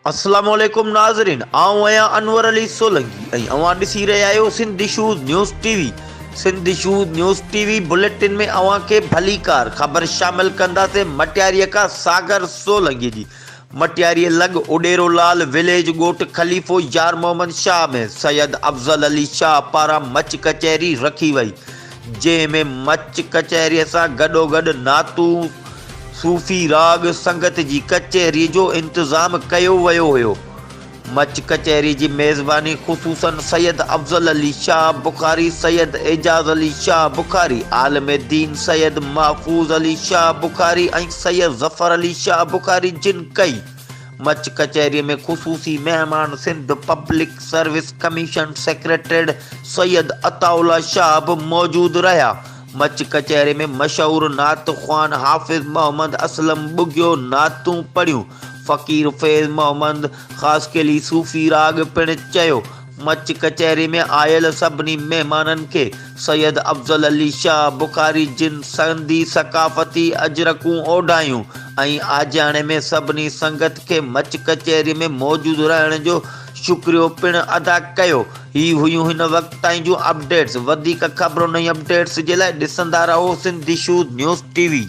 السلام عليڪم ناظرين آئون آهيان انور علي سولنگي ۽ اوهان ڏسي رهيا آهيو Sindh shows news T V Sindh shows news T V bulletin ۾ اوهان کي ڀليڪار خبر شامل ڪنداسين مٽياري کان ساگر سولنگي جي مٽياريء لڳ اڏيرو لال وليج ڳوٺ خليفو يار محمد شاهه ۾ سيد افضل علي شاهه پاران مچ ڪچهري رکي وئي، جنهن ۾ مچ ڪچهريء سان گڏوگڏ نعتون، صوفي راڳ، سنگت جي ڪچهريء جو انتظام ڪيو ويو هيو. مچ ڪچهري جي ميزباني خصوصاً سيد افضل علي شاهه بخاري، سيد اعجاز علي شاهه بخاري، عالم دين سيد محفوظ علي شاهه بخاري ۽ سيد ظفر علي شاهه بخاري جن ڪئي. مچ ڪچهري ۾ خصوصي مهمان Sindh public service commission secretariat Syed Ataullah Shah به موجود رهيا. مچ ڪچهري ۾ مشهور نعت خوان حافظ محمد اسلم ٻگهيو نعتون پڙهيون. فقير فيض محمد خاصخيلي صوفي راڳ پڻ چيو. مچ ڪچهري ۾ آيل سڀني مهمانن کي سيد افضل علي شاهه بخاري جن سنڌي ثقافتي اجرڪون اوڍايون ۽ آجياڻي ۾ سڀني سنگت کي مچ ڪچهري ۾ موجود رهڻ جو شڪريو پڻ ادا ڪيو. هي هيون هن وقت تائين جون اپڊيٽس. وڌيڪ خبرون ۽ اپڊيٽس جي لاء ڏسندا رهو Sindh issues news T V.